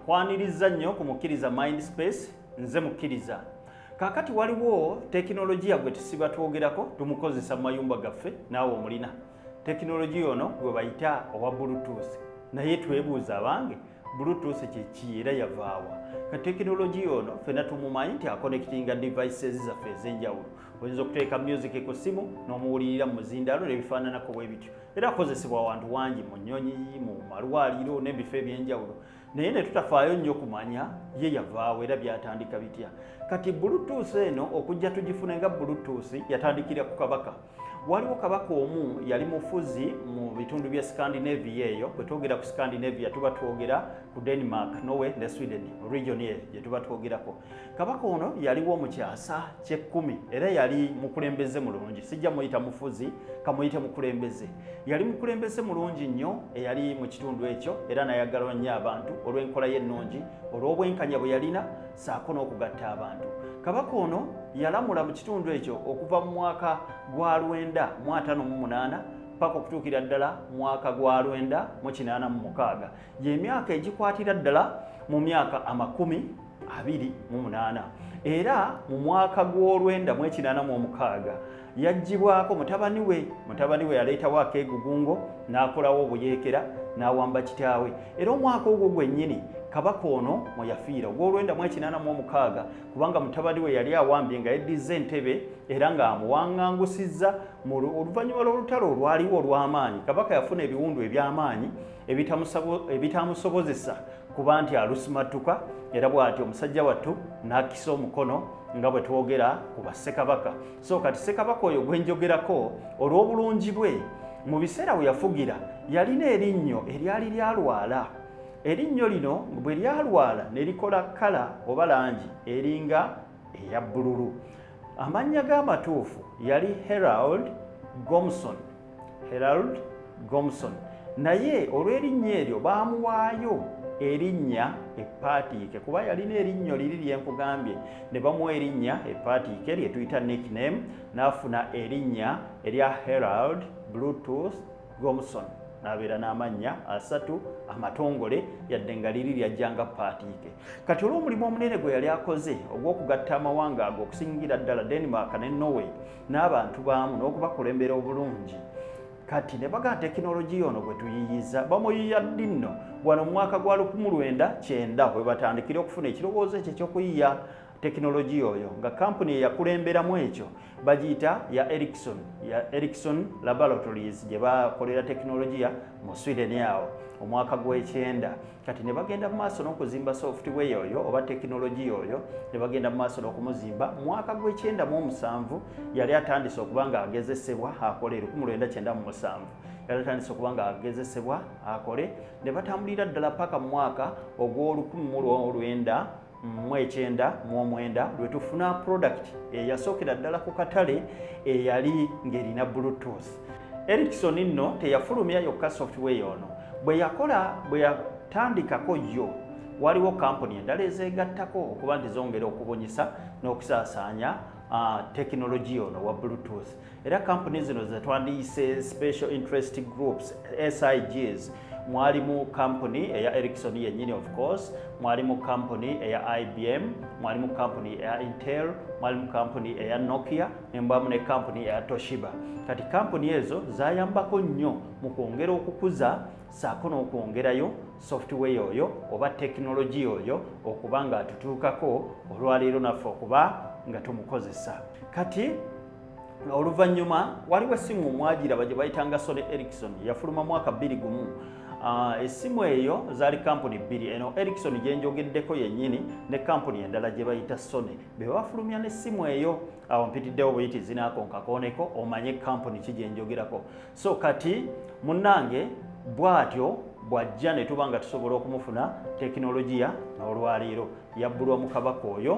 kwaniriza nnyo ku mukkiriza mind space nze mukkiriza kakati waliwo tekinologiya gwe tusiba twogerako tumukozesa mu mayumba gaffe naawe omulina tekinologiya ono gwe bayita owa bluetooth naye twebuuza abange bluetooth kyeki era yavaawa ka tekinologiya ono fena tumumanyi nti akonekitinga devices zaffe ez'enjawulo oyinza okuteeka music ku ssimu n'omuwulirira mu muzindaalo nebifaananako bwe bityo era kukozesebwa wantu wangi mu nnyonyi mu malwaliro n'ebifo eby'enjawulo naye ne tutafaayo nnyo kumanya ye yavaawo era byatandika bitya kati bulutuusi eno okujja tugifune nga bulutuusi yatandikira ku kabaka waliwo kabaka omu yali mufuzi mu bitundu bya scandinavia eyo bwe twogera ku scandinavia tuba twogera ku denmark norway ne sweden region eyo gye tuba twogerako kabaka ono yaliwo mu kyasa kyekkumi era yali mukulembeze mulungi sijja muyita mufuzi kamuyite mukulembeze yali mukulembeze mulungi nnyo eyali mu kitundu ekyo era nayagalwa nnyo abantu olw'enkola ye ennungi olw'obwenkanya bwe yalina saako n'okugatta abantu kabaka ono yalamula mu kitundu ekyo okuva mu mwaka gwa lwenda mu atano mu munaana paka okutuukira ddala mwaka gwa lwenda mu kinaana mu mukaaga gy'emyaka egikwatira ddala mu myaka amakumi abiri mu munaana era mu mwaka gw'olwenda mu ekinaana mu omukaaga yaggyibwako mutabani we mutabani we yaleetawo akeegugungo n'akolawo obuyeekera n'awamba kitaawe era omwaka ogwo gwennyini kabaka ono mwe yafiira ogw'olwenda mu ekinaana mu omukaaga kubanga mutabani we yali awambye nga yeddizza entebe era ng'amuwangangusizza mu oluvannyuma lw'olutalo olwaliwo olw'amaanyi kabaka yafuna ebiwundu eby'amaanyi ebitaamusobozesa kuba nti alusimattuka era bw'atyo omusajja wattu n'akisa omukono nga bwe twogera ku bassekabaka so kati ssekabaka oyo gwe njogerako olw'obulungi bwe mu biseera we yafugira yalina erinnyo eryali lyalwala erinnyo lino bwe lyalwala ne likola kkala oba langi eringa eya bbululu Amannya ge amatuufu yali Herald Gomson. Herald Gomson. Naye olw'erinnya eryo baamuwaayo erinnya epaatiike kuba yalina erinnyo liri lye nkugambye ne bamuwa erinnya epaatiike lye tuyita nickname n'afuna erinnya erya Herald Bluetooth gomuson nabeera n'amannya asatu amatongole yadde nga liri lyajja nga paatiike kati olw'omulimu omunene gwe yali akoze ogw'okugatta amawanga ago okusingira ddala denmark ne norway n'abantu baamu n'okubakulembera obulungi kati ne baga tekinologiya ono gwe tuyiyiza bamuyiya ddi nno wano mu mwaka gwa 19 bwe batandikira okufuna ekirowoozo ekyo ekyokuyiya tekinologiya oyo nga kampuni eyakulemberamu ekyo bagiyita ya ericson ya ericson laboratories gye bakolera tekinologiya mu sweden awo omwaka gw'ekyenda kati ne bagenda mu maaso n'okuzimba software oyo oba tekinologiya oyo ne bagenda mu maaso n'okumuzimba mwaka gw'ekyenda mu omusanvu yali atandise okuba nga agezesebwa akole lukumu lwenda kyenda mu musanvu yali atandise okuba nga agezesebwa akole ne batambulira ddala paka mu mwaka ogw'olukumu mu lwolwenda mu ekyenda mu omwenda lwe tufuna product eyasookera ddala ku katale eyali ng'erina bluetooth erikson nno teyafulumya yokka software ono bwe yakola bwe yatandikako yo waliwo kampuni endala ezeegattako okuba nti zongera okubunyisa n'okusaasaanya tekinologiya ono wa bluetooth era kampuni zino zetwandiyise special interest groups sigs mwalimu kampuni eya ericson yennyini of course mwalimu kampuni eya ibm mwalimu kampuni eya intel mwalimu kampuni eya nokia nembamu ne kampuni eya toshiba kati kampuni ezo zayambako nnyo mu kwongera okukuza saako n'okwongerayo software oyo oba tekinologiya oyo okuba nga atutuukako olwaleero naffe okuba nga tumukozesa kati oluvannyuma waliwo essimu omwajira bagye bayitanga sony erikson yafuluma mwaka bbiri gumu ah, essimu eyo zaali kampuni bbiri eno erikson gye njogeddeko yennyini ne kampuni endala gye bayita sony be bafulumya n'essimu eyo awo mpitiddewo buyiti zinaakonkakooneko omanye kampuni ki gye njogerako so kati munnange bw'atyo bw'ajja ne tuba nga tusobola okumufuna tekinologiya n'olwaleero yabbulwa mu kabaka oyo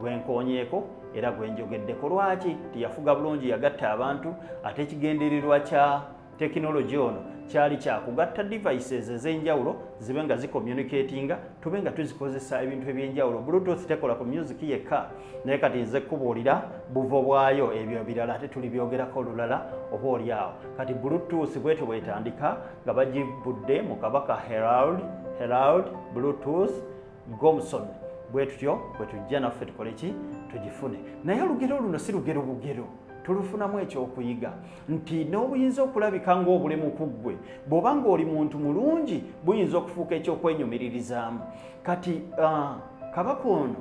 gwenkonyeeko era gwenjogeddeko lwaki tiyafuga bulungi yagatta abantu ate ekigendererwa kya tekinologi ono kyali kyakugatta devices ez'enjawulo zibe nga zicommunicatinga tube nga tuzikozesa ebintu eby'enjawulo bluetooth tekola ku music yekka naye kati nze kubuulira buvo bwayo ebyo ebirala ate tuli byogerako olulala oba oli awo kati bluetooth bwetyo bwetandika nga bagibudde mu kabaka herald herald bluetooth gomson bwetutyo bwetujja naffe tukole ki tugifune naye olugero luno si lugero bugero tulufunamu ekyokuyiga nti n'obuyinza okulabika ng'obulemu ku ggwe bw'oba ng'oli muntu mulungi buyinza okufuuka ekyokwenyumiririzaamu kati uh, kabaka ono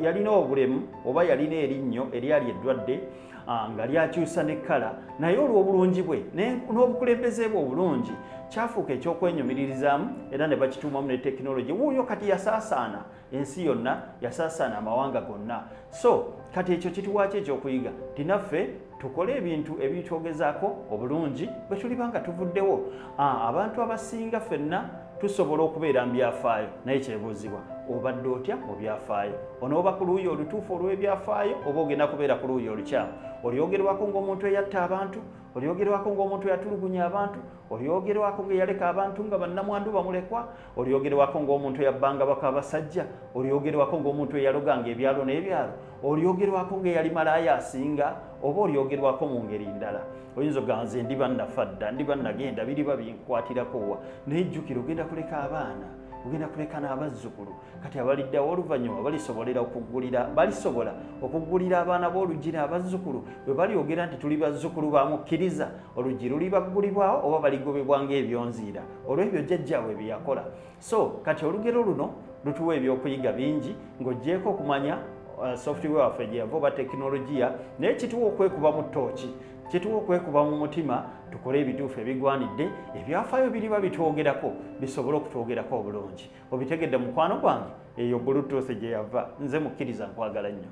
yalina obulemu oba yalina erinnyo eryali eddwadde ah, nga lyakyusa ne kkala naye olw'obulungi bwe n'obukulembeze bwe obulungi kyafuuka ekyokwenyumiririzaamu era ne bakituumamu ne tekinologi wuuyo kati yasaasaana ensi yonna yasaasaana amawanga gonna so kati ekyo kituwaaki ekyokuyiga tinaffe tukole ebintu ebitwogezaako obulungi bwe tuliba nga tuvuddewo abantu abasinga fenna tusobola okubeera mu byafaayo naye kyebuuzibwa obadde otya mu byafaayo onooba ku luuyi olutuufu olw'ebyafaayo oba ogenda kubeera ku luuyi olukyamu olyogerwako ng'omuntu eyatta abantu olyogerwako ng'omuntu eyatulugunya abantu olyogerwako ng'eyaleka abantu nga bannamwandu bamulekwa olyogerwako ng'omuntu eyabbanga baka abasajja olyogerwako ng'omuntu eyaloganga ebyalo n'ebyalo olyogerwako ng'eyali malaaya asinga oba olyogerwako mu ngeri ndala oyinza ogamba nze ndi bannafa dda ndi bannagenda biriba binkwatirako wa naye jjukira ogenda kuleka abaana ogenda kuleka n'abazzukulu kati abaliddawo oluvannyuma balisobolera okuggulira balisobola okuggulira abaana b'oluggi n'abazzukulu bwe balyogera nti tuli bazzukulu ba mukkiriza oluggi lulibaggulibwawo oba baligobebwa ng'ebyonziira olw'ebyo jjajjaabwe bye yakola so kati olugero luno lutuwa ebyokuyiga bingi ng'ogyeko okumanya uh, software waffe gye yava oba tekinologiya naye kituwa okwekuba mu tooki kituwa okwekuba mu mutima tukole ebituufu ebigwanidde ebyafaayo biriba bitwogerako bisobole okutwogerako obulungi obitegedde mukwano gwange eyo bulutuusi gye yava nze mukkiriza nkwagala nnyo